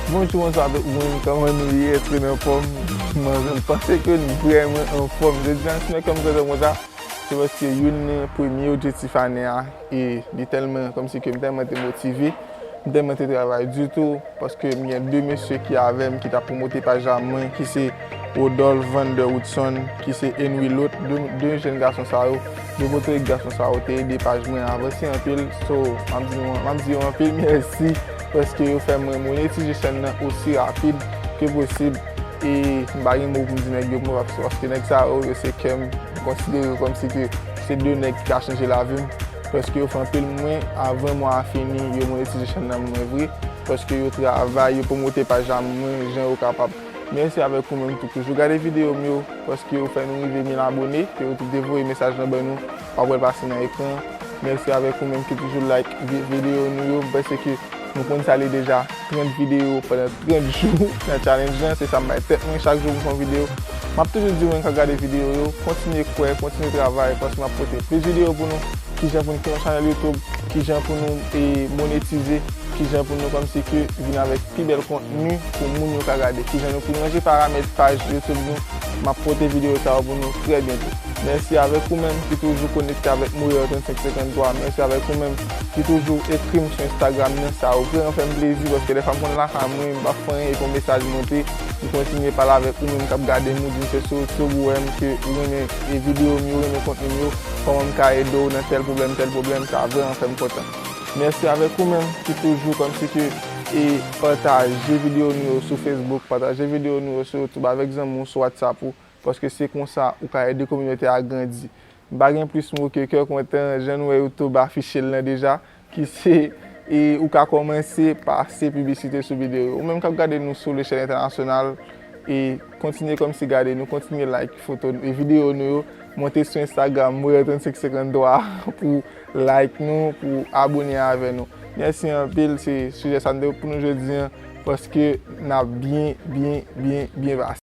Bonjou bonswa tout moun kòman nou ye èske nou anfòm mwen menm panse ke nou vrèman anfòm jodi an si mwen kèm kontan konsa se paske youn nan premye objektif ane a e li tèlman kòmsi ke m tèlman te motive m tèlman te travay di tou Paske m gen 2 mesye ki avè m ki ta pwomote paj la mwen ki se Rodolph Van De Woodson ki se Henry Lothe 2 jèn gason sa yo 2 motorik gason sa yo te ede paj mwen avanse anpil so map di yo anpil mèsi paske yo fè mwen monetize chèn nan osi rapid ke posib e m pa gen mo pou m di nèg yo pou mwen paske nèg sa yo yo se kè m m konsidere yo kòmsi ke se 2 nèg ki ka chanje lavi m. Paske yo fè anpil mwen avan mwa a fini yo monetize chèn nan mwen vre paske yo travay yo promote paj la mwen jan yo kapab mèsi avèk ou menm tou toujou gade video m yo paske ou fè nou rive 1000 abone ke ou tou devoye mesaj lan ban nou wap wèl pase nan ekran an mèsi avèk ou menm ki toujou like video nou yo m panse ke nou konn sa li deja. 30 videyo pandan 30 jou nan challenge lan se sam bay tèt mwen chak jou m fè yon videyo map toujou di moun kap gade videyo yo kontinye kwè kontinye travay paske map pote plis videyo pou nou kijan pou nou fè yon chanèl youtube kijan pou nou monetize kijan pou nou kòmsi ke vin avèk pi bèl kontni pou moun yo ka gade kijan nou pou nou ranje paramèt paj youtube nou map pote videyo sa yo pou nou trè byento mèsi avèk ou menm ki toujou konekte avèk Moyè 3553 mèsi avèk ou menm. Li toujou ekrim sou Instagram nan sa vreman fèm plezi paske dèfwa m konn lakay mwen m pa fè anyen epi yon mesaj monte li kontinye pale avèk ou menm kap gadem ou dim se sou YouTube ou wèm ke ou renmen video m yo ou renmen kontni m yo kòman m ka ede w nan tèl pwoblèm tèl pwoblèm sa vreman fèm kontan mèsi avèk ou menm ki toujou kòmsi ke e pataje video nou yo sou Facebook pataje video nou yo sou YouTube avèk zanmi w sou WhatsApp ou paske se konsa ou ka ede kominote a grandi M pa gen plis mo ke kè kontan, jan nou wè youtube afiche l lan deja, ki se e ou ka kòmanse pase piblisite sou videyo yo. Ou menm k ap gade nou sou lechèl entènasyonal e kontinye kòmsi gade nou, kontinye like foto nou e videyo nou yo, monte sou Instagram moreau3553 pou w like nou, pou w abone avè nou. Mèsi anpil, se sijè sa nou te pou nou jodi an, paske n ap byen, byen, byen, byen pase.